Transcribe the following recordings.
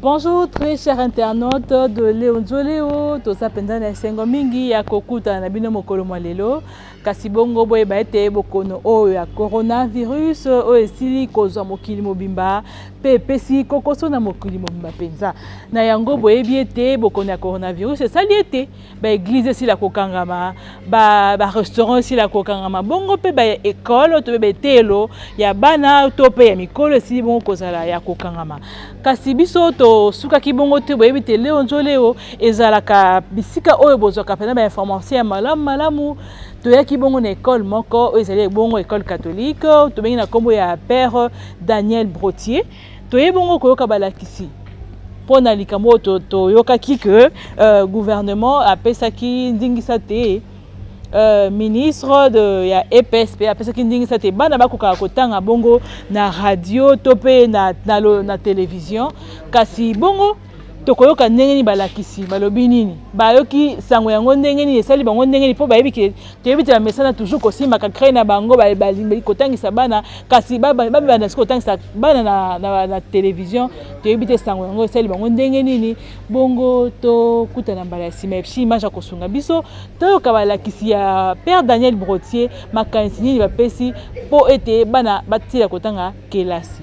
Bonjour très cher internaute de Léo Nzoleo, toza mpenza na esengo mingi ya kokutana na bino mokolo mwa lelo kasi bongo boyeba ete bokono oyo ya coronavirus oyo esili kozwa mokili mobimba mpe epesi kokoso na mokili mobimba mpenza na yango boyebi ete bokono ya coronavirus esali ete ba eglise esila kokangama barestaurant esila kokangama bongo mpe baekole to mpe beteyelo ya bana to mpe ya mikolo esili bongo kozala ya kokangama kasi biso tosukaki bongo te boyebi te leo nzo leo ezalaka bisika oyo bozwaka mpena bainformation ya malamu malamu toyaki bongo na ekole moko oyo ezali ebongo ekole catholique tobengi na nkombo ya père daniel brotier Toye bongo koyoka balakisi mpo na likambo oyo toyokaki ke euh, gouvernement apesaki ndingisa te euh, ministre de, ya EPS mpe apesaki ndingisa te bana bakokaka kotanga bongo na radio to mpe na, na, na, na television kasi bongo tokoyoka ndenge nini balakisi balobi nini bayoki sango yango ndenge nini esali bango ndenge nini mpo bayebi ke toyebi te bamesana toujours kosimbaka crei na bango balingi kotangisa bana kasi babanda soki kotangisa bana na, na, na televizio toyebi te sango yango esali bango ndenge nini bongo tokutana mbala ya nsima epsi image ya kosunga biso toyoka balakisi ya père daniel brotier makanisi nini bapesi mpo ete bana batila kotanga kelasi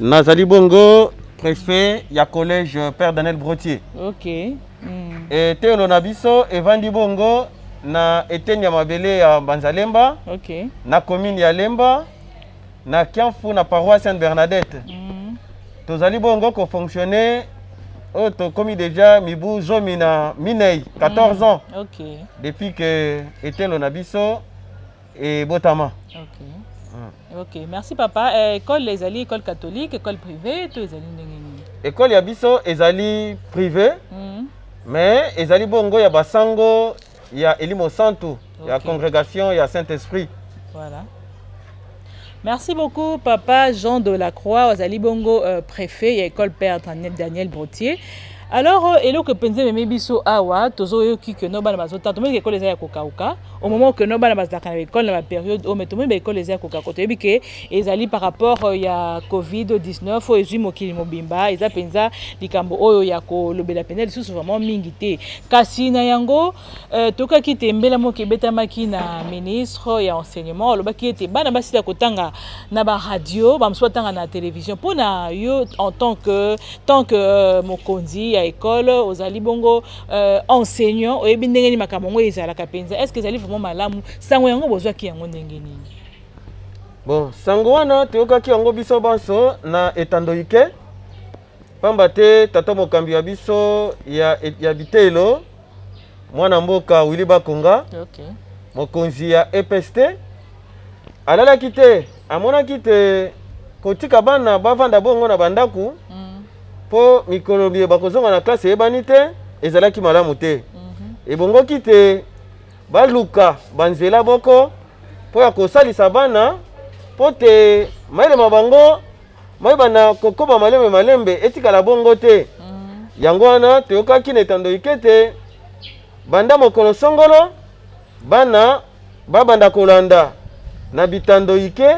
Nazali bongo prefet ya collège Père Daniel Brotier. OK. Mm. Et telo na biso evandi bongo na eteni ya mabele ya Banzalemba. OK. Na commune ya Lemba na Kiamfu na paroisse Sainte Bernadette. Mm. Tozali bongo ko fonctionner oyo tokomi deja mibu zomi na minei 14 mm. ans okay. depuis que etelo na biso Et Botama. Ok. Mm. Ok, merci papa. Eh, école ezali école catholique, école privée, tout ezali ndenge nini? École ya biso ezali privée. Mm. Mais ezali bongo ya basango ya Elimo Santu, okay. ya congrégation ya Saint-Esprit. Voilà. Merci beaucoup papa Jean de la Croix ozali bongo euh, préfet ya école père Daniel Brotier alors euh, eloko epenza ememi biso awa tozoyoki ke no bana bazotanga tomoni ke ekolo eza ya kokauka au moment ke no bana bazalaka na baekole na baperiode oyo me tomoni baekole eza ya kokauka toyebi ke ezali par rapport euh, ya covid 19 oyo ezwi mokili mobimba eza mpenza likambo oyo ya kolobela mpenza lisusu vraiment mingi te kasi na yango Euh, tokaki te mbela moko ebetamaki na ministre ya enseignement alobaki ete bana basila kotanga na baradio bamosusu batanga na télévision mpo na yo en tant que tant que euh, mokonzi ya école ozali bongo euh, enseignant oyebi ndenge nini makambo yango ezalaka mpenza est ce que ezali vraiment malamu sango yango bozwaki yango ndenge nini bon sango wana toyokaki yango biso banso na etando ike Pamba te tata mokambi wa biso ya, ya biteyelo mwana mboka Willy Bakonga okay. mokonzi ya EPST alalaki te, amonaki te kotika bana bavanda bongo na bandako mm. mpo mikolo miye bakozonga na klase eyebani te, ezalaki malamu te mm -hmm. ebongoki te baluka banzela boko mpo ya kosalisa bana mpo te mayele ma bango mayeba na kokoba malembe malembe etikala bongo te mm. yango wana toyokaki na etando ikete banda mokolo songolo bana babanda kolanda na bitando ike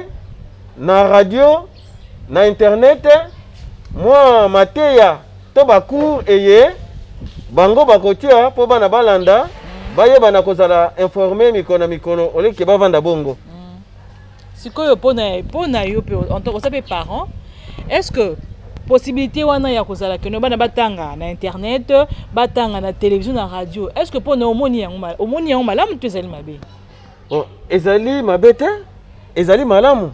na radio na internet mwa mateya to bacour eye bango bakotia mpo bana balanda mm. bayebana kozala informe mikolo na mikolo oleke bavanda bongo mm. sikoyo mpo na mpo na yo mpe en tant oza mpe parent est ce que possibilité wana ya kozala keno bana batanga na internet batanga na télévision na radio est ce que mpo na omoni yango ma- omoni yango malamu to ezali mabe Bon, ezali mabe te ezali malamu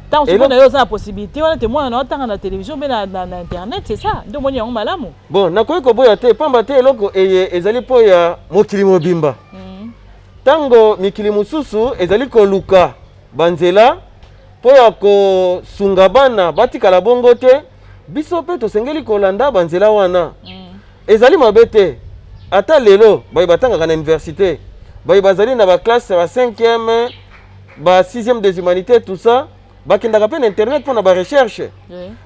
ntango Elo- sikoyo na yo oza na possibilité wana te mwana na yo atanga na télévision mpe na, na, na internet c'est ça nde omoni yango malamu bon nakoki koboya te pamba te eloko eye ezali mpo ya mokili mobimba Mhm. Ntango mikili mosusu ezali koluka banzela mpo ya kosunga bana batikala bongo te, biso mpe tosengeli kolanda banzela wana. Mm. Ezali mabe te ata lelo baye batangaka na université baye bazali na baklasse ya ba 5e ba 6e des humanités tout ça bakendaka mpe na internet mpo na barecherche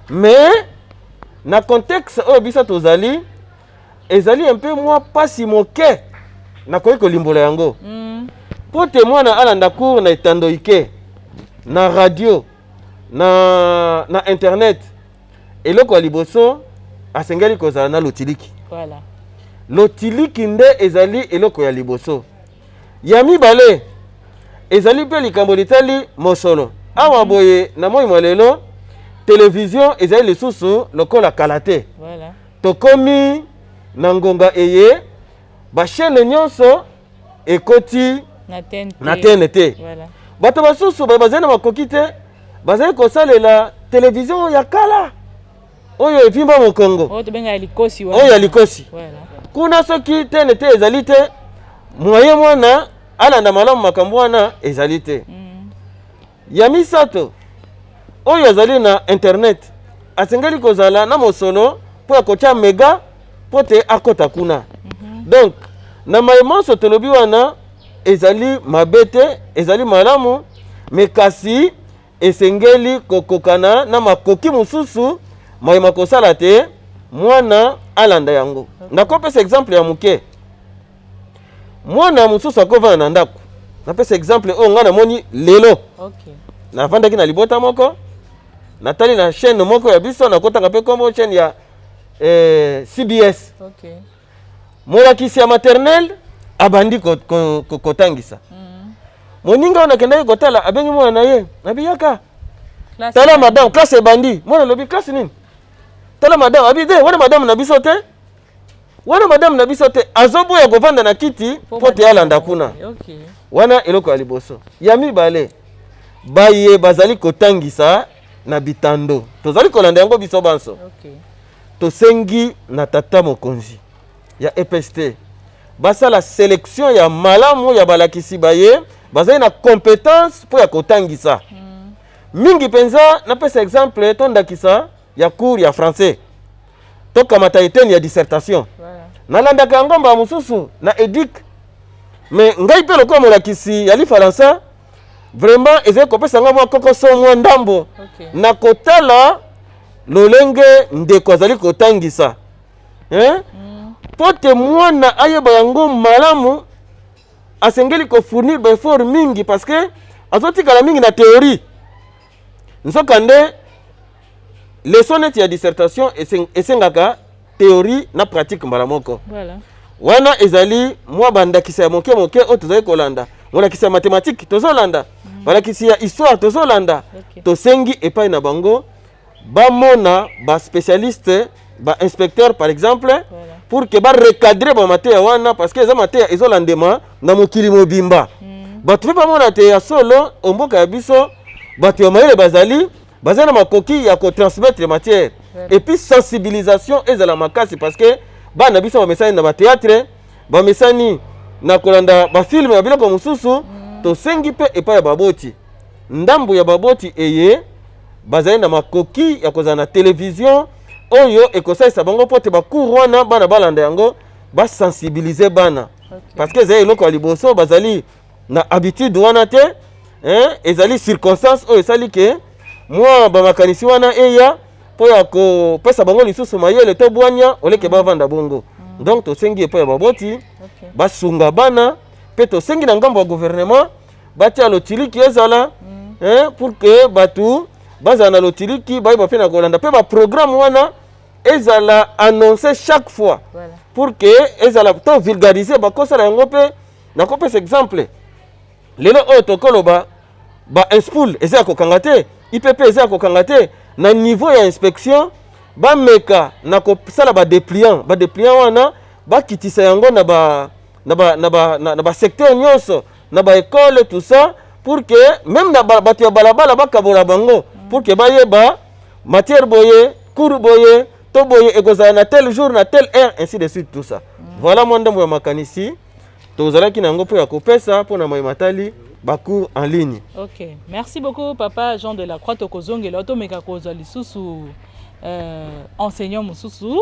mais na contexte oyo biso tozali ezali un peu mwa mpasi moke nakoki kolimbola yango mm. mpo te mwana alanda cour na etando ike na radio na, na internet eloko ya liboso asengeli kozala na lotiliki voilà. lotiliki nde ezali eloko ya liboso ya mibale ezali mpe likambo litali mosolo awa mhm. boye na moi mwa lelo televizio ezali lisusu lokola kala te voilà. Tokomi na ngonga eye ba chaine nyonso ekoti na tnt bato basusu bazali na makoki te bazali kosalela televizio ya kala oyo evimba mokongo oyo ya likosi kuna soki tnt ezali te moye mwana alanda malamu makambo wana ezali te mm. Ya misato, oyo azali na Internet asengeli kozala na mosolo mpo ya kotya mega mpo te akota kuna. Mhm. Donc, na maye manso tolobi wana ezali mabe te, ezali malamu, me kasi esengeli kokokana na makoki mosusu maye makosala te mwana alanda yango. Nakopesa exemple ya moke. mwana mosusu akovanda na ndako napesa exemple oyo ngai namoni lelo okay. navandaki na libota moko natali na chaîne moko ya biso nakotaka mpe nkombo chaîne ya eh, cbs okay. molakisi ya maternelle abandi kotangisa ko, ko, ko mm. moninga oyo nakendaki kotala abengi mwana na ye nabiyaka tala madame classe ebandi mwana alobi classe nini tala madame abi te wana madame na biso te wana madame na biso te azoboya kovanda na kiti mpo te alanda kuna okay. wana eloko ya liboso ya mibale baye bazali kotangisa na bitando tozali kolanda yango biso banso okay. tosengi na tata mokonzi ya epst basala selection ya malamu ya balakisi baye bazali na competence mpo ya kotangisa mm. mingi mpenza napesa exemple to ndakisa ya cours ya français tokamata eteni ya dissertation nalandaka yango mbala mosusu na edic me ngai mpe lokola molakisi ya lifalansa vraiment ezali kopesa ngai mwa kokoso mwa ndambo okay. na kotala lolenge ndeko azali kotangisa eh? mm. mpo te mwana ayeba yango malamu asengeli kofournir baeffort mingi parce que azotikala mingi na théorie nzokande leso neti ya dissertation esengaka théorie na pratique mbala moko voilà. wana ezali mwa bandakisa ya moke moke oyo tozali kolanda molakisi ya mathématique tozolanda mm. balakisi ya histoire tozolanda okay. tosengi epai na bango bamona baspécialiste ba inspecteur par exemple voilà. pour que ba recadrer ba mateya wana parce que eza mateya ezolandema na mokili mobimba mm. bato mpe bamona te ya solo omboka ya biso bato ya mayele bazali baza na makoki ya kotransmettre matière voilà. et puis sensibilisation ezala makasi parce que bana na biso bamesani na bateatre bamesani na kolanda bafilme ya biloko mosusu mm. tosengi mpe epai ya baboti Ndambo ya baboti eye bazali na makoki ya kozala na televizio oyo ekosalisa bango mpo te bacour wana bana balanda yango basensibilize bana okay. parce que ezali eloko ya liboso bazali na habitude wana te eh, ezali circonstance oyo esali ke mwa bamakanisi wana eya mpo ya kopesa bango lisusu mayele to bwania oleke mm. bavanda bongo mm. donc tosengi epai ya baboti okay. basunga bana mpe tosengi na ngambo ya gouvernement batia lotiliki ezala eh, pour que bato bazala na lotiliki bayeba mpe na kolanda mpe baprogramme wana ezala annonce chaque fois voilà. pour que ezala to vulgarise bakosala yango mpe nakopesa exemple lelo oyo tokoloba ba inspool eza ya kokanga te ipp eza ya kokanga te na niveau ya inspection bameka na kosala badepliant badepliant wana bakitisa yango na ba, na ba, na ba, na, na ba secteur nyonso na ba ecole tout ça pour que même na bato ya balabala bakabola bango pour que bayeba matière boye cours boye to boye ekozala na tel jour na tel heure ainsi de suite tout ça voilà mwa ndambo ya makanisi tozalaki na yango mpo ya kopesa mpo na mai matali bacours en ligne ok merci beaucoup papa jean de la croix tokozongela otomeka kozwa lisusu euh, enseignant mosusu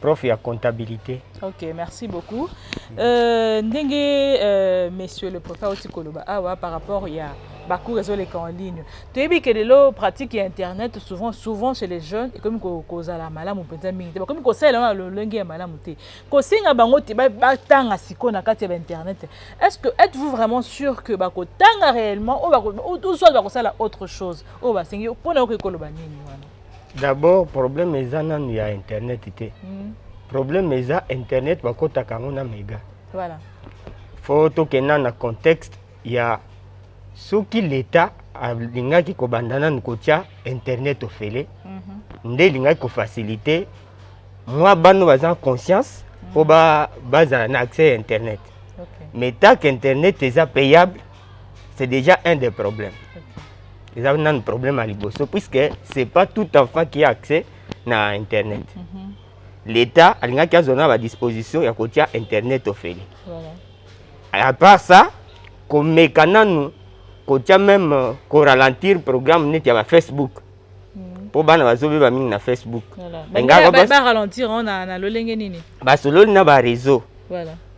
prof ya comptabilité ok merci beaucoup euh, ndenge euh, monsieur le préfet auti koloba awa par rapport ya bacours ezoleka en ligne toyebi ke lelo pratique ya internet souvent souvent chez les jeunes ekomi kozala malamu mpenza mingi te bakomi kosalela yango na lolenge ya malamu te kosenga bango te batanga sikoyo na kati ya bainternet est ce que êtes vous vraiment sûr que bakotanga réellement oyo soit bakosala autre chose oyo basengi mpo na yokoki koloba nini wana D'abord problème eza nanu ya internet te. Mm. Problème eza internet bakotaka yango na mega. Voilà. Faut tokenda na contexte ya soki l'État alingaki kobanda nanu kotya internet ofele mm -hmm. nde elingaki kofacilite mwa bano baza conscience mpo mm. bazala na accès ya internet okay. mais tak internet eza payable c'est déjà un des problèmes eza nanu problème ya liboso puisque c'est pas tout enfant qui a accès na internet mm -hmm. l'état alingaki azwa na badisposition ya kotia internet ofele voilà. à part ça komeka nanu kotia même euh, koralentir programme neti ya bafacebook mpo mm. bana bazobeba mingi na facebook baralentir na lolenge nini basololi na bareseau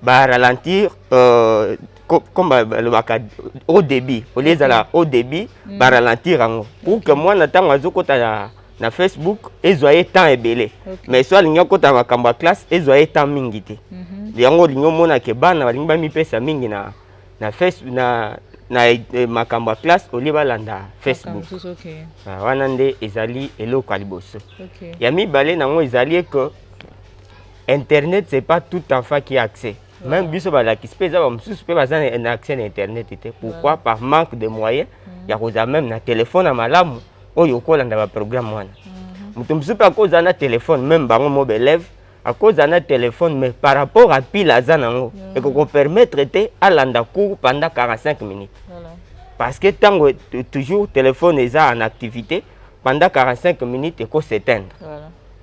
baralentir euh, comme balobaka au début au lieu ezala au début mm. baralentir yango pour que mwana ntango azokota na, na facebook ezwa ye temps ebele mais so alingi akota makambo ya classe ezwa ye temps mingi te mhm. yango olingi omona ke bana balingi bamipesa mingi na, na, face, na, na eh, makambo ya classe olie balanda facebook ah, wana nde ezali eloko ya liboso ya mibale nango ezali eke internet c'est pas tout enfant qui accès mm. meme biso balakisi mpe eza bamosusu mpe baza na accès na internet te pourquoi par manque de moyen mm. ya kozala meme na telefone ya malamu oyo okolanda baprogramme wana mm-hmm. moto mosusu mpe akozala na telefone meme bango mo baelève akozala na telefone mais par rapport a pile aza nango mm. ekokopermettre te alanda cours pendant 45 minutes parce que ntango toujours telefone eza en activité pendant 45 minutes ekoseteindre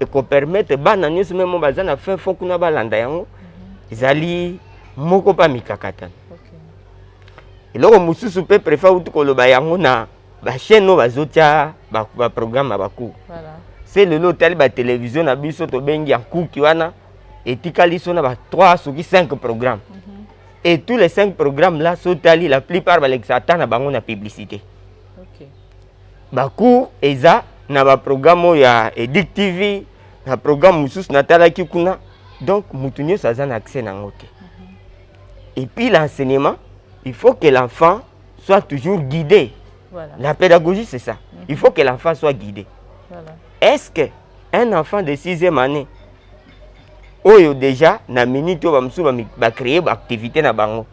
ekopermete bana nyonso meme baza na fin fond kuna balanda yango mhm. ezali moko mpe mikakatano eloko mosusu mpe prefe auti koloba yango na bachaine oyo bazotya baprogramme ya bacour se lelo otali batelevizio na biso tobengi ya nkuki wana etikali so na ba 3 soki 5 programme mhm. et tous les 5 programmes là so otali la plupart balekisa ata na bango na publicité ba cours eza na ba programme oyo ya Edic TV na programme mosusu natalaki kuna donc moto nyonso aza na accès nango te et puis l'enseignement il faut que l'enfant soit toujours guidé voilà. la pédagogie c'est ça mm -hmm. il faut que l'enfant soit guidé voilà. est-ce que un enfant de sixième année oyo déjà na minute oyo bamosusu bacreye baactivité na bango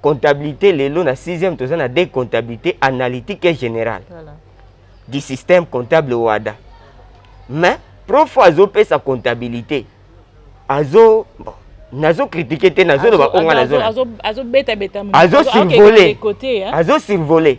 comptabilité lelo na 6e toza na de comptabilité analytique et générale voilà. du système comptable wada mais prof azopesa comptabilité azo bon, nazo kritike te nazoloba onga nazozosirvole azo survole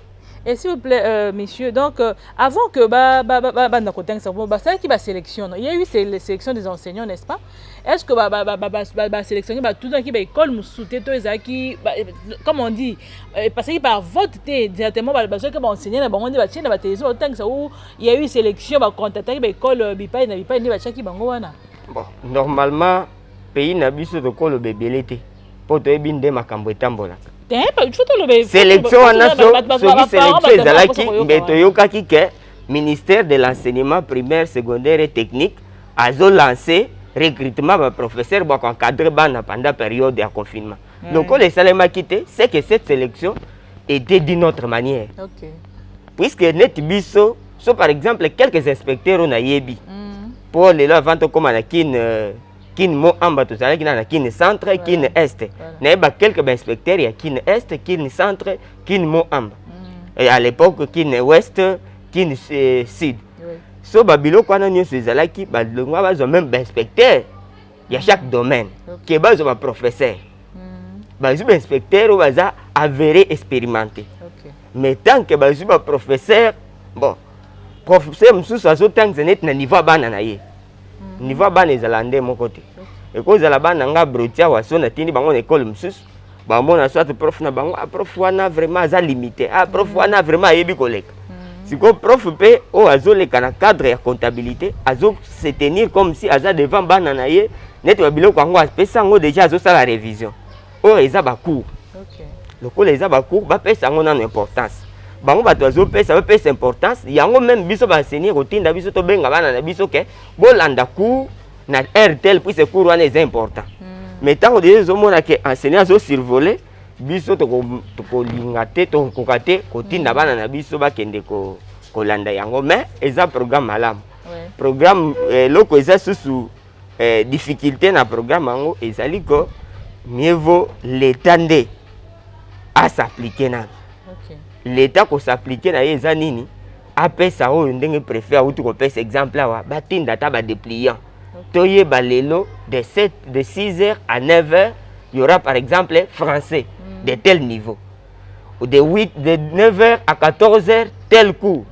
Et s'il vous plaît, euh, monsieur, donc euh, avant que ba ba ba ba ba na kotanga ça, ba ça qui ba sélection, non? il y a eu c'est les sélections des enseignants, n'est-ce pas? Est-ce que ba ba ba ba ba ba, ba sélectionner ba tout dans qui ba école musute to ezaki ba, eh, comme on dit euh, parce que par vote te directement ba ba ceux qui ba enseigner na bango nde ba tiena ba télévision ba tanga ça où il y a eu sélection ba contacter ba école euh, bipai na bipai nde ba chaki bango wana. Bon, normalement pays na biso tokoloba ebele te. mpo toyebi nde makambo etambolaka eh, selection wana soki selection ezalaki mbe toyokaki ke ministère de l'enseignement primaire secondaire et technique azolancer recrutement baprofesseur bako encadre bana pendant période ya confinement lokola esalemaki te c'est que cette sélection était d'une autre manière okay. puisque neti biso so par exemple quelques inspecteurs oyo nayebi mpo mm. lelo avant tokóma na kine euh, kin moamba tozalaki na na kin centre kin est nayeba quelque bainspecteur ya kin est kin centre kin moamba mm. et à l'époque kin ouest kin euh, sud so babiloko wana nyonso ezalaki balongwa bazwa meme bainspecteur ya chaque domaine ke bazwa baprofesseur mm. bazwi bainspecteur oyo baza avéré expérimenté mais tant que bazwi baprofesseur bon professeur mosusu azotangisa neti na niveau ya bana na ye mhm. niveau ya bana ezala nde moko te ekozala bana nga brotia waso natindi bango na ekole mosusu bamona soit prof na bango ah, prof wana vraiment aza limité ah, prof mhm. wana vraiment ayebi koleka mhm. sikoyo prof mpe oyo azoleka na cadre ya comptabilité azo se tenir comme si aza devant bana na ye neti babiloko yango apesi yango déjà azosala révision oyo eza ba cours okay. lokola eza ba cours bapesa yango nano importance bango bato bazopesa bapesa importance yango meme biso baenseigne kotinda biso tobenga bana na biso ke bolanda cours na heure tel puise cours wana eza important mm. mais ntango deja ezomona ke enseigne azosurvole biso tokolinga te tokokoka te kotinda mm. bana na biso bakende ko, kolanda yango mais eza programme malamu ouais. programme eh, eloko eh, eza susu eh, difficulté na programme yango ezali ko mieux vaut l'etat nde asapplike nanu okay. l'etat kosapplike na ye eza nini apesa oyo ndenge préfet awuti kopesa exemple awa batinda ata badepliant okay. toyeba lelo de 7 de 6 heures à 9 heures y aura par exemple français mm. de tel niveau de 8 de 9h à 14h tel coup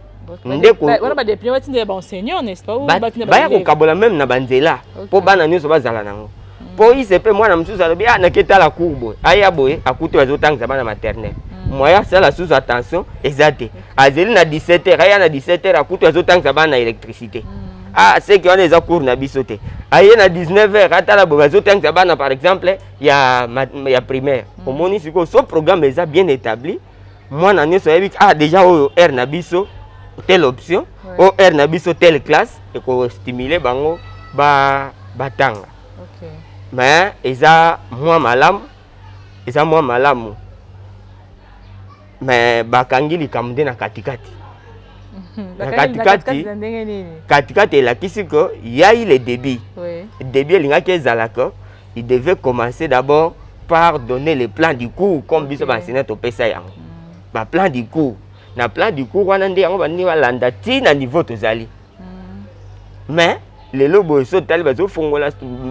ndeko wana ba député ba tindela ba enseignants n'est-ce pas ou ba tindela ba ya ko kabola même na banzela po bana nyoso bazala nango hmm. po ise pe mwana mosusu alobi ah naketa la cour boye aya boye akuti bazotangisa bana maternelle hmm. moyen asala susu attention eza te azeli na 17 heures aya na 17 heures akuti azotangisa bana na électricité hmm. ah seke wana eza cour na biso te aye na 19 heures atala boye bazotangisa bana par exemple ya, ya primaire mm. omoni sikoyo so programme eza bien établi mwana nyonso ayebi ah déjà oyo aire na biso telle option ouais. oyo aire na biso telle classe ekostimule bango ba batanga okay. mais eza mwa malamu eza mwa malamu mais bakangi likambo nde na katikati mhm. na katikati katikati elakisi que yai le débit oui. débit elingaki ezala que il devait commencer d'abord par donner le plan du cours comme biso okay. baenseignant topesa yango mm. baplan du cours na plan du cours wana nde yango baningi balanda ti na niveau tozali mais lelo boye so totali bazofongola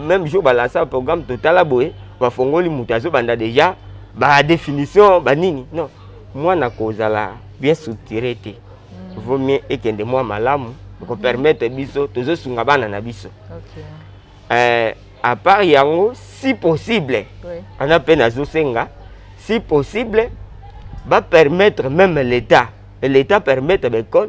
même jour balasa programme totala boye bafongoli moto azobanda déjà badéfinition banini non mwana kozala bien structuré te mm. vaut mieux ekende mwa malamu ekopermettre biso tozosunga bana na biso okay. euh, à part yango si possible wana oui. mpe nazosenga si possible bapermettre même l'état l'état permettre baekole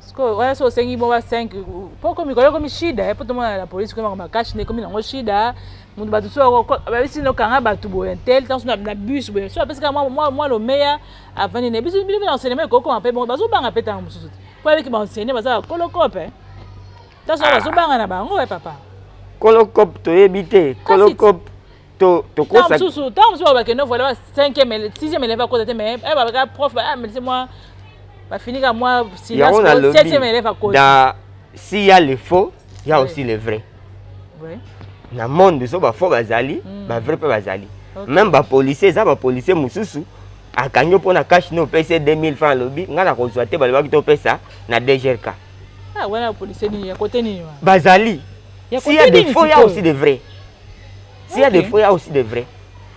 sikoyo wana so osengi mwa ba 5 mpo okomi koya ekomi shida mpo tomona na polisi komi makambo makashi nde ekomi nango shida moto bato so babisi nokanga bato boye tel ntango so na bus boye so apesi kaka mwa lomeya avandi na biso bino mpe na enseignement ekokoma mpe bongo bazobanga mpe ntango mosusu te mpo ayebiki baenseigne baza bakolokope ntango so bazobanga na bango e papa kolokope toyebi te kolokope to tokosa mosusu ntango mosusu bakende voile ba cinquième sixième élève akota te mais eh, babaka prof amelisi ah, mwa bafinika mwa silaseptième élève akota s'il y a le faux il y a aussi le vrai na monde so bafaux bazali hmm. bavrai mpe bazali même bapolicier eza bapolicier mosusu akangi yo mpo na cash no opesi 2000 franc alobi ngai nakozwa te balobaki topesa na dgrk ah, bazali s'il y a de faux il y a aussi de vrai si ya defo ya aussi de vrai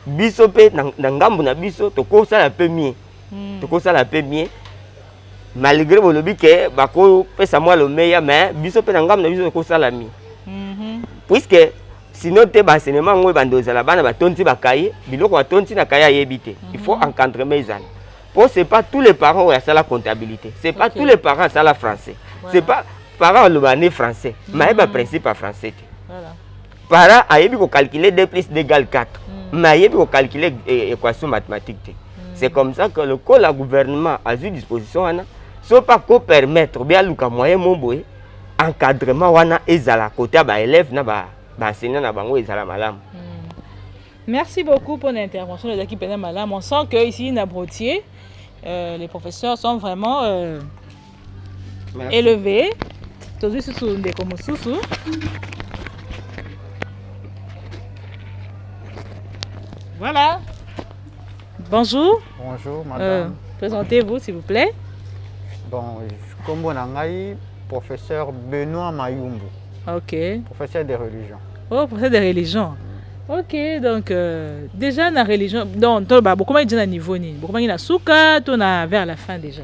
biso mpe na ngambo na biso tokosala mpe mie hmm. tokosala mpe mie malgré bolobi ke bakopesa mwa lomeya mais biso mpe na ngambo na biso tokosala mie mhm. puisque sinon te baenseignement yango ebanda ozala bana batondi bakaye biloko batondi na kaye ayebi te il faut mhm. encadrement ezala mpo c'est pas tous les parents oyo asala comptabilité c'est pas tous les parents asala français c'est pas parents aloba ne français mhm. maye baprincipe ya français te para ayebi kocalcule 2 plus 2 égale 4 mm. mais ayebi kocalcule eh, équation mathématique te mm. c'est comme ça que lokola gouvernement azwi disposition wana so mpe akopermettre obe aluka moyen mo boye encadrement wana ezala kote ya baélève na baenseignant na bango ezala malamu mm. merci beaucoup mpo na intervention ezalaki mpenza malamu on sent que ici na brotier euh, les professeurs sont vraiment euh, eleve tozwi susu ndeko mosusu voilà bonjour bonjour euh, madame euh, présentez-vous s'il vous plaît bon kombo na ngai professeur benoît mayumbu ok professeur de religion oh professeur de religion ok donc euh, déjà na religion donc toloba bokomaki déjà na niveau nini bokomaki na suka to na vers la fin déjà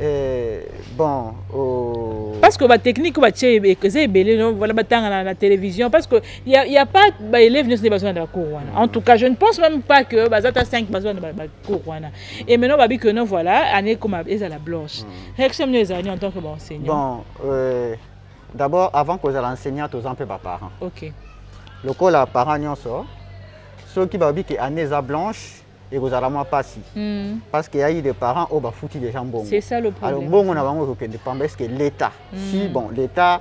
Eh, bon oh. parce que ba technique ba tie eza ebele non voilà batanga na, na télévision parce que il y a, y a pas ba élèves ne sont besoin de la cour wana en tout cas je ne pense même pas que ba zata 5 besoin de ba, ba cour wana et maintenant ba bi que non voilà année comme eza la blanche mm. réaction nous ezali en tant que ba enseignant bon euh, d'abord avant que ozala enseignant toza mpe ba parents OK lokola parents nyonso soki ba bi que année eza blanche ekozala mwa mpasi mm. parce que yayi des parents oyo bafuti déjà mbongo alors mbongo na bango ekokende pamba est ce que l'état mm. si bon l'état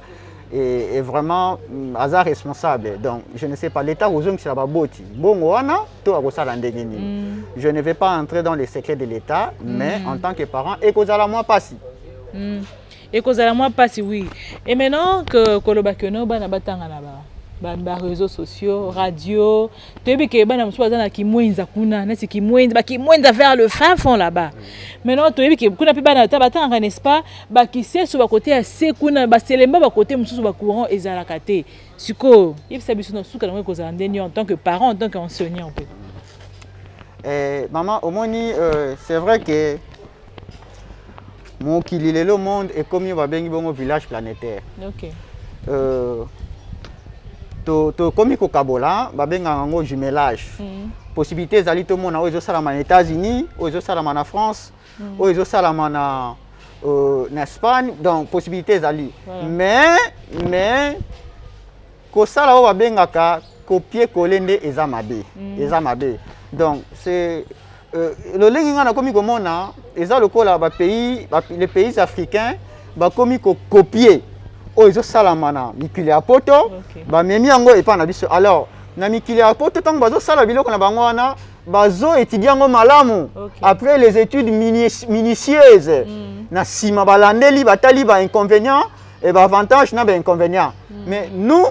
est, est vraiment mm, aza responsable donc je ne sais pas l'état kozongisela baboti mbongo wana to akosala ndenge nini mm. je ne vais pas entrer dans les secrets de l'état mm. mais en tant que parent ekozala mwa mpasi mm. ekozala mwa mpasi oui et maintenant que koloba que no bana batanga na ba bareseau sociaux radio toyebi ke bana mosusu baza na kimwenza kuna neti kimwenza bakimwenza vers le fin fond là-bas maintenant toyebi ke kuna mpe bana ata batangaka n'est ce pas bakiseso bakote ya se kuna baselemba bakote mosusu bacourant ezalaka te sikoyo yebisa biso na suka nango ekozala ndeni en tant que parent en tant que enseignant mpe eh, mama omoni euh, c'est vrai que mokili lelo monde ekomi oyo babengi bongo village planétaire okay. euh, tokomi to kokabola babengaka yango jumelage mm. possibilité ezali tomona oyo ezosalama na états-unis oyo ezosalama na france mm. oyo ezosalama na euh, na espagne donc possibilité ezali voilà. mais mais kosala oyo babengaka kopie kole nde eza mabe mm. eza mabe donc c'est Euh, lolenge ngai nakomi komona eza lokola bapays les pays africains bakomi kokopie oyo ezosalama na mikili ya poto okay. bamemi yango epai na biso alors na mikili ya poto ntango bazosala biloko na bango wana bazo étudie yango malamu okay. après les études minutieuses mm. na nsima balandeli batali ba inconvénients et ba avantages na ba inconvénients mm. mais nous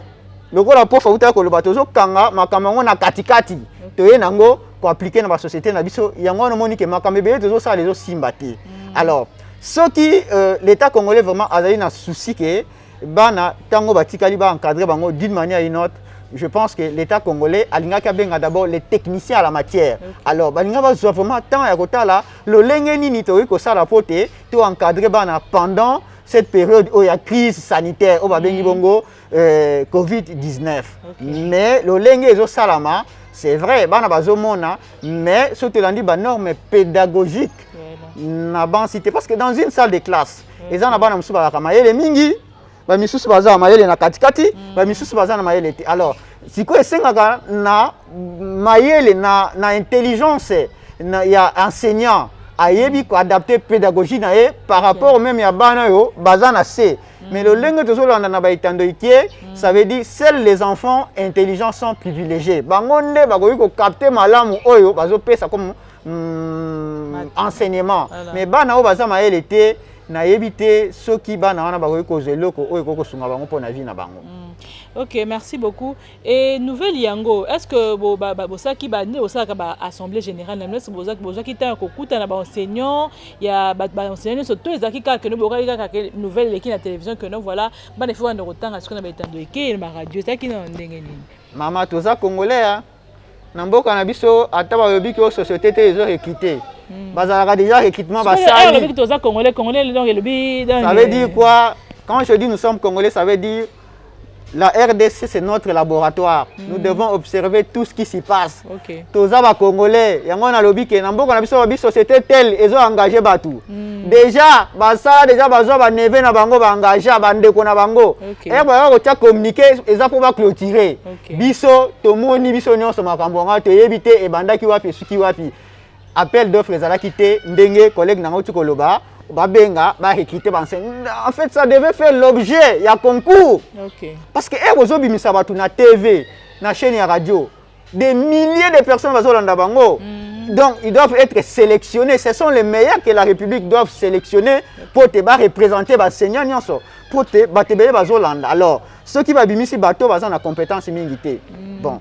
lokola mpofa utaki koloba tozokanga makambo yango na katikati toye na yango koaplike na basociété na biso yango wana omoni ke makambo ebele tozosala ezosimba te mm. alors soki euh, l'état congolais vraiment azali na souci ke bana ntango batikali baancadre bango d'une manière une autre je pense que l'état congolais alingaki abenga d'abord les techniciens à la matière okay. alors balinga bazwa vraiment temps ya kotala lolenge nini tokoki kosala mpo te to encadre bana pendant cette période oyo ya crise sanitaire oyo babengi mm. bongo euh, covid-19 okay. mais lolenge ezosalama c'est vrai bana bazomona mais soki tolandi banorme pédagogique na bansi te parce que dans une salle de classe eza na bana mosusu bazalaka mayele mingi bamisusu baza na mayele na katikati mm. bamisusu baza na mayele te alors sikoyo esengaka na mayele na, na intelligence na, ya enseignant ayebi koadapte pédagogie na ye par rapport meme ya bana oyo baza na se Mais le lingue de Zolanda na baitando ikie, mm. ça veut dire seuls les enfants intelligents sont privilégiés. Bango nde bakoki ko capter malamu oyo bazo pesa comme mm, enseignement. Voilà. Mais bana oyo baza mayele te, nayebi te soki bana wana bakoki kozwa eloko oyo ekoki kosunga bango mpo na vie na bango. Mm. Ok, merci beaucoup. Et nouvelle yango, est-ce que bo ba bo saki ba ne osaka ba assemblée générale na messe bozaki bozaki temps ko kuta na ba enseignants ya ba ba enseignants so to ezaki kaka que no bokaki kaka que nouvelle leki na télévision que no voilà bana faut banda kotanga siko na ba etando eke na radio ezaki na ndenge nini mama toza congolais hein? na mboka na biso ata balobi ke société te ezo ekite hmm. bazalaka déjà recrutement basali toza congolais congolais donc elobi ça veut dire quoi quand je dis nous sommes congolais ça veut dire La RDC, c'est notre laboratoire. Mm. Nous devons observer tout ce qui s'y passe. Okay. Toza ba Congolais, yango na lobi ke na mboka na biso ba société telle ezo engager batu. Mm. Déjà, ba sala déjà bazwa ba neve na bango ba engager ba ndeko na bango. Okay. Et eh, ba ko tia communiquer eza pour ba clôturer. Okay. Biso tomoni biso nyonso makambo nga toyebi te ebandaki wapi esuki wapi. appel d'offre ezalaki te ndenge collègue na ngai koloba babenga barecrute banse en fait ça devait faire l'objet ya concours okay. parce que ere ozobimisa bato na tv na chaîne ya radio des milliers de personnes bazolanda bango mm. donc ils doivent être sélectionnés ce sont les meilleurs que la république doivent sélectionner mpo te bareprésente baseignant nyonso mpo te bato ebele bazolanda alors soki babimisi bato baza na compétence mingi te mm. bon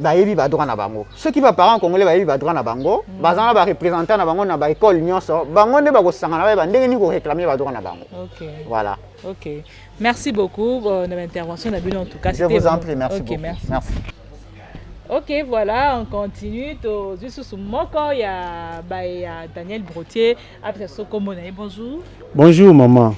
bayebi badroit na bango soki baparent congolais bayebi badroit na bango mm. baza na barepresentant na bango na baekole nyonso bango nde bakosangana bayeba ndenge nini koréclame badroit na bango voilà ok merci beaucoup euh, na baintervention na bino en tout cas je vous en prie merci beaucoup merci ok voilà on continue tozwi susu moko ya baye ya daniel brotier bonjour. Bonjour maman.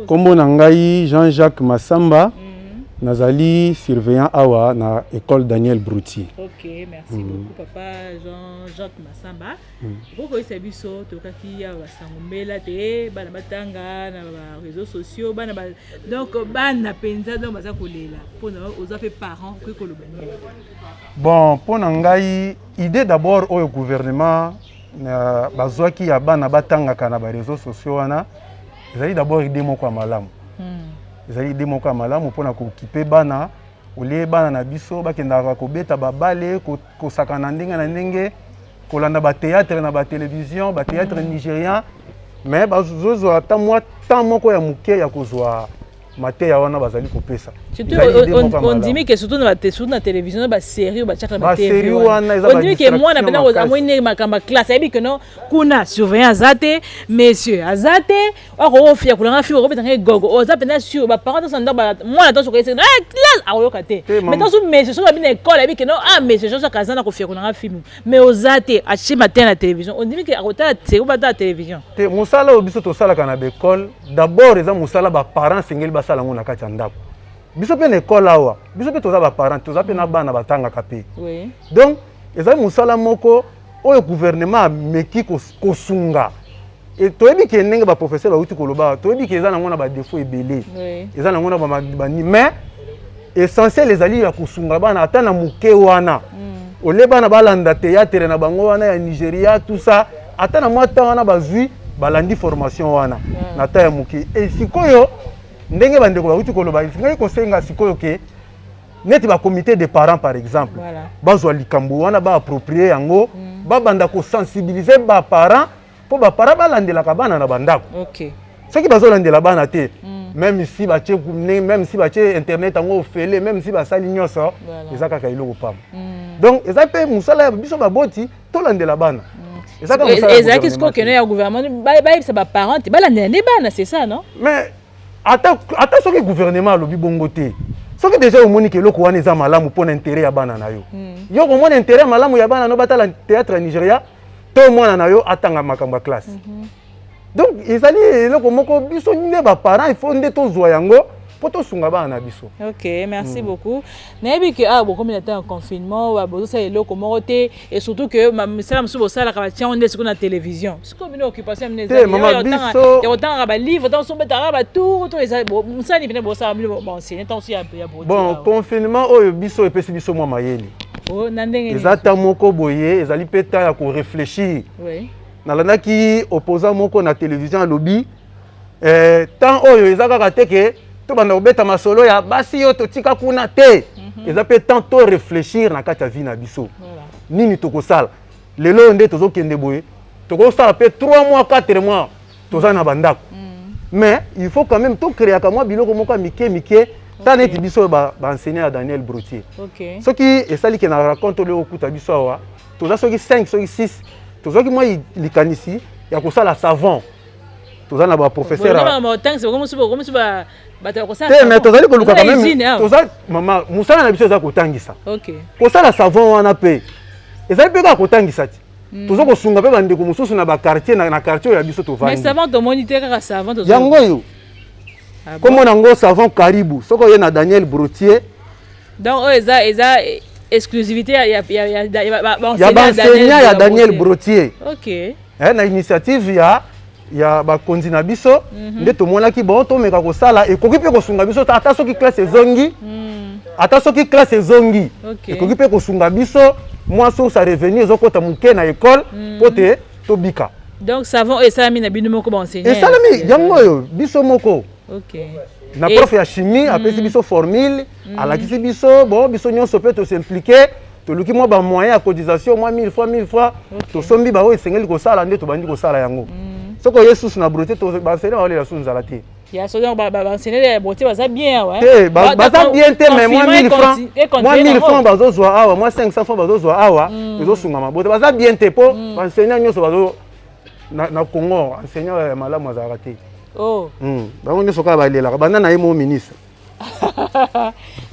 Kombo na ngai Jean-Jacques Massamba. Mm -hmm. Nazali surveillant awa na école Daniel Brouti. OK, merci mm -hmm. beaucoup papa Jean-Jacques Massamba. Mm -hmm. Oko isa biso tokaki ya basango mbela te bana batanga na ba réseaux sociaux bana ba donc bana penza donc baza kolela pona oza pe parent ko koloba. Bon, pona ngai idée d'abord au gouvernement na bazwaki ya bana batangaka na bareseau sociaux wana ezali d'abord ide moko ya malamu hmm. ezali ide moko ya malamu mpona kokipe bana olie bana na biso bakendaka kobeta babale kosakana ndenge na ndenge kolanda bateatre na batelevizio bateatre hmm. nigérien mais bazozwa ata mwa temps moko ya moke ya kozwa mateya wana bazali kopesa ondimi ke surtout na télévision na basérie oyo batiaka na batéondimi ke mwana mpena amoni ndenge makambo ya classe ayebi ke no kuna surveillant aza te monsieur aza te akoofia kolanga fiko okobeta ngai gogo oza mpenza sur baparent tosa ndako mwana toso koyese eh, classe akoyoka te mais tosu monsieur soki babi na ekole ayebi ke no ah monsieur jojo akaza na kofia kolanga fimi mais oza te atie matin na télévision ondimi ke akotala seko batala télévision te mosala oyo biso tosalaka na baekole d'abord eza mosala baparent esengeli basala yango na kati ya ndako biso mpe na ekole awa biso mpe toza baparent toza mpe na bana batangaka mpe donc ezali mosala moko oyo gouvernement ameki kosunga Et toyebi ke ndenge ba professeur bawuti koloba toyebi ke eza nango na ba défaut ebele eza nango na ba mais essentiel ezali ya kosunga bana ata na moke wana mm. ole bana balanda théâtre na bango wana ya nigeria tout ça ata na mwa temps wana bazwi balandi formation wana mm. na temps ya moke e sikoyo ndenge bandeko bawuti koloba esengaki kosenga sikoyo ke neti bacomité de parents par exemple voilà. bazwa likambo wana baapproprier yango mm. babanda kosensibilize baparents mpo bapara balandelaka bana na bandako okay. soki bazolandela bana te mm. meme si batie meme si batie internet yango ofele meme si basali nyonso voilà. eza kaka eloko pamba mm. donc eza mpe mosala ya biso baboti tolandela bana mm. ezalaki sikoyo keno ya gouvernement bayebisa baparent te balandela nde bana c'est ça non mais ata, ata soki gouvernement alobi bongo te soki deja omoni ke eloko wana eza malamu mpo na intere ya bana na yo mm. yo komona intere ya malamu ya bana no batala théâtre ya nigeria to mwana na yo atanga makambo ya classe mm -hmm. donc ezali eloko moko biso nde baparent il faut nde tozwa yango mpo tosunga bana na biso ok merci mm. beaucoup nayebi ke awa ah, bokomi na ntango ya confinement bozosala eloko moko te et surtout ke misala mosusu bosalaka batiango nde sikoyo na télévision sikoyo bino occupation mine ezayakotangaka balivre ntango mosusu obetaka batour to mosala nini pene bosala bino baenseigne ntango mosusu ya bon confinement oyo biso epesi biso mwa mayele oh, eza ta moko boye ezali mpe ta ya koreflechir nalandaki opposant moko na télévision alobi eh, temps oyo eza kaka te ke tobanda kobeta masolo ya basi oyo totika kuna te mhm. eza mpe temps to réfléchir na kati ya vie na biso nini tokosala lelo oyo nde tozokende boye tokosala mpe 3 mois 4 mois toza na bandako mais il faut quand même tokreaka mwa biloko moko ya mike mike ta neti biso baenseignant ya daniel brotier soki esali ke na raconte olio okuta biso awa toza soki 5 soki 6 tozwaki mwa likanisi ya kosala savon toza na baprofesseur te mais tozali koluka quand même toza mama mosala na biso eza kotangisa kosala savon wana mpe ezali mpe kaka kotangisa ti Mm. toza kosunga mpe bandeko mosusu na bakartier na kartier oyo ya biso tovandyango oyo ah kombo na yango savant karibu soki oye na daniel brotier donc oyo eza eza exclusivité ya baenseignant ya daniel brotier eh, na initiative ya ya bakonzi na biso mm -hmm. nde tomonaki bon tomeka kosala ekoki mpe kosunga biso ata soki classe ezongi mm. ata soki classe ezongi okay. ekoki mpe kosunga biso mwa source ya revenu ezokota moke na ekole mpo mm. te tobika donc savon oyo esalami na bino moko baenseignant esalami yango oyo biso moko okay. na prof ya chimie mm. apesi biso formule mm. alakisi biso bon biso nyonso mpe tosimplike toluki mwa ba moyen ya cotisation mwa 1000 francs 1000 francs okay. tosombi baoyo esengeli kosala nde tobandi kosala yango mm. soki oye susu na brote bansene baolela susu nzala te ya so donc bansene ya brote baza bien awa eh? te baza bien te mais mwa 1000 francs mwa 1000 francs bazozwa awa mwa 500 francs bazozwa awa mm. ezosunga mabote baza bien te mpo mm. bansene nyonso bazo na congo enseignant ya malamu azalaka te oh. bango nyonso kaka balelaka banda na ye mo ministre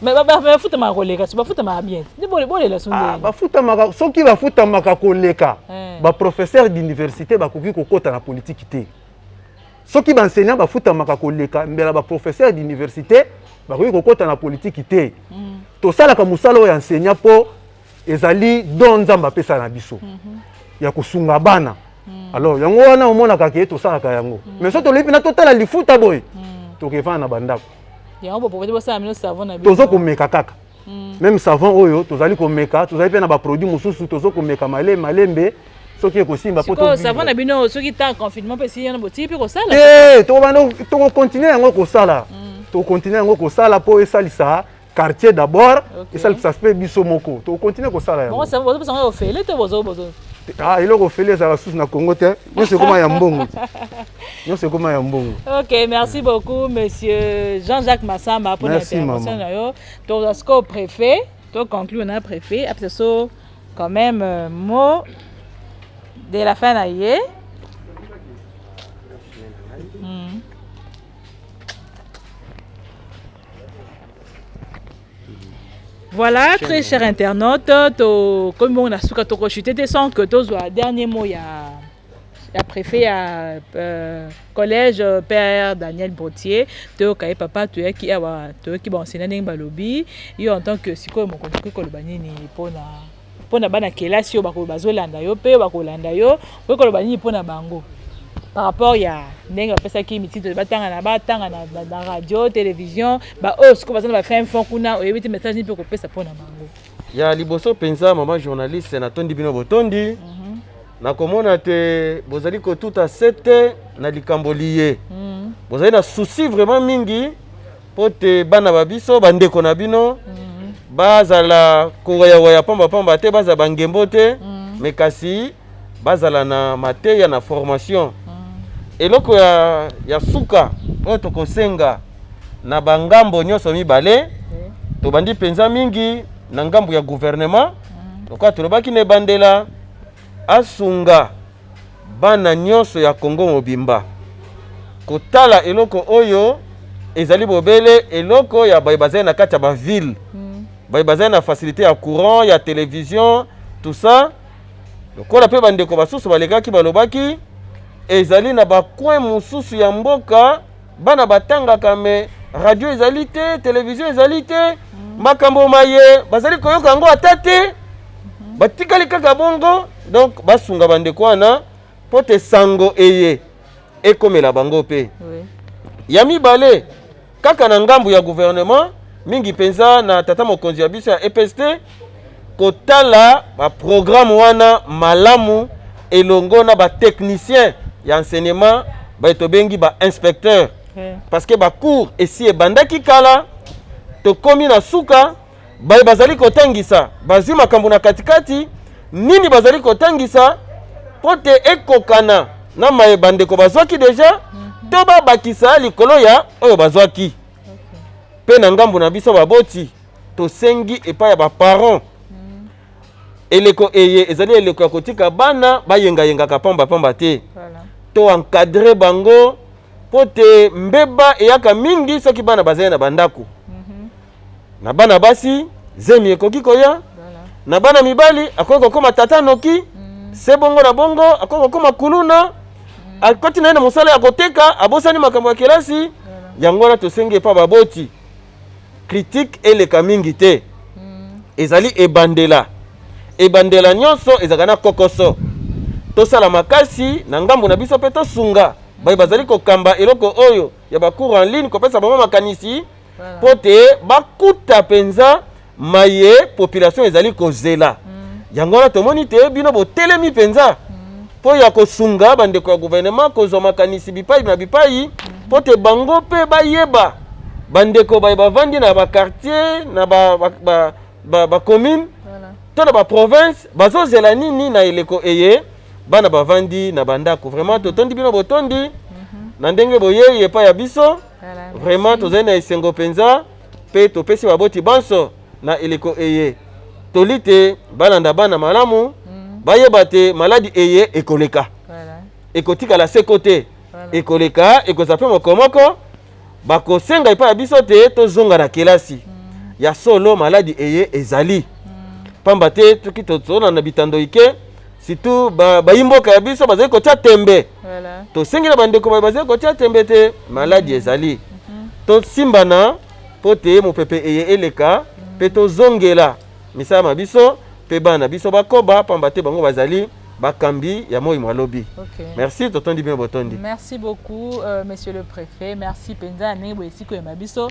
bafutamaka koleka so bafutamaka bien bolela so ah, bafutamaka soki bafutamaka koleka eh. baprofesseur d'université bakoki kokota na politiki te soki baenseignant bafutamaka koleka mbela baprofesseur d'université bakoki kokota na politiki te mm. tosalaka mosala oyo ya enseignant mpo ezali don nzambe apesa na biso mhm. ya kosunga bana mm. alors yango wana omonaka ke tosalaka yango mm. mais so tolobi mpena totala lifuta boye mm. tokevana na bandako tozo komeka kaka mm. meme savon oyo tozali komeka tozali mpe na baproduit mosusu tozo komeka male malembe soki ekosimba savon na bino soki temps confinement mpe esili yana botii mpe kosala eh, tokocontinue yango kosala mm. tokocontinue yango kosala mpo esalisa quartier d'abord okay. esalisa mpe biso moko tokontinue kosala yango ofele te ah, eloko ofele ezala susu na congo te nyonso ekoma ya mbongo nyonso ekoma ya mbongo ok merci beaucoup monsieur jean jacques masamba mpo na intervention na yo tozwa sikoyo préfet toconclure na préfet apesa so quand même euh, mot de la fin na ye Voilà, très chers internautes, to comme on a suka toko chuté te sans que to soit dernier mot ya ya préfet ya euh, collège euh, père Daniel Botier to kaye papa to yaki awa to yaki ba enseignant ndenge balobi yo en tant que sikoyo mokonzi ko koloba nini pona mpo na bana kelasi oyo bakoyo bazolanda yo mpe oyo bakolanda yo okoki koloba nini mpo na bango par rapport ya ndenge bapesaki mitindo batanga na batanga na radio television baoyo sikoyo baza na bafin fond kuna oyebi te message nini mpe okopesa mpo na bango ya liboso mpenza mama journaliste natondi bino botondi mm -hmm. nakomona te bozali kotuta sete na likambo liye mm -hmm. bozali na souci vraiment mingi mpo te bana ba biso bandeko na bino mm. bazala kowayawaya pambapamba te bazala bangembo te mm. me kasi bazala na mateya na formation mm. eloko ya, ya suka oyo tokosenga na bangambo nyonso mibale mm. tobandi mpenza mingi na ngambo ya guvernema mm. lokola tolobaki na ebandela asunga bana nyonso ya Congo mobimba kotala eloko oyo ezali bobele eloko ya baye bazali na kati ya ba ville mm. baye bazali na facilité ya courant ya television tout ça lokola mpe bandeko basusu balekaki balobaki ezali na bacoin mosusu ya mboka Bana batangaka me radio ezali te, television ezali te, mm. makambo maye bazali koyoka yango ata te, mm-hmm. batikali kaka bongo. Donc basunga bandeko wana mpo te sango eye ekomela bango mpe. Oui. Ya mibale kaka na ngambo ya gouvernement mingi mpenza na tata mokonzi ya biso ya EPST kotala ba programme wana malamu elongo na ba technicien ya enseignement baye tobengi ba inspecteur okay. parce que bacours esi ebandaki kala tokomi na suka baye bazali kotangisa bazwi makambo na katikati nini bazali kotangisa mpo te ekokana na maye bandeko bazwaki deja mm -hmm. to babakisa likolo ya oyo bazwaki mpe okay. na ngambo na biso baboti tosengi epai ya baparent mm. eleko eye ezali eleko ya kotika bana bayengayengaka pambapamba te voilà. to encadre bango mpo te mbeba eyaka mingi soki bana bazali na bandako mm -hmm. na bana basi zemi ekoki koya voilà. na bana mibali akoki kokoma tata noki mm. se bongo na bongo akoki kokoma kuluna mm. akoti na ye na mosala ya koteka abosani makambo ya kelasi voilà. yango wana tosengi epa baboti critique eleka mingi te hmm. ezali ebandela ebandela nyonso ezalaka na kokoso tosala makasi na ngambo na biso mpe tosunga baye bazali kokamba eloko oyo ya bacours en ligne kopesa bango makanisi mpo te bakuta mpenza maye population ezali kozela mm. yango wana tomoni te bino botelemi mpenza mpo mm. ya kosunga bandeko ya guvernema kozwa makanisi bipai na bipai mm. mpo mm. te bango mpe bayeba bandeko baye bavandi na bakartier na bacommune ba, ba, ba, ba voilà. to na baprovince bazozela nini na eleko eye bana bavandi na bandako vraiment totondi bino botondi mm -hmm. na ndenge boyei epai ya biso voilà, vraiment tozali na esengo mpenza mpe topesi baboti banso na eleko eye toli te balanda bana malamu mm. bayeba te maladi eye ekoleka voilà. ekotikala seko te voilà. ekoleka ekozala mpe mokomoko bakosenga epai ya biso te tozonga na kelasi mm. ya solo maladi eye ezali mm. pamba te soki tozolanda bitando ike surtout bayi mboka ya biso bazali kotya tembe tosengela bandeko baye bazali kotya tembe te maladi ezali mhm. tosimbana mpo te mopepe eye eleka mpe mhm. tozongela misala na biso mpe bana na biso bakoba mpamba te bango bazali bakambi ya moi mwa lobi okay. merci totondi bino botondi merci beaucoup euh, monsieur le préfet merci mpenza ya ndenge boyesi koyema biso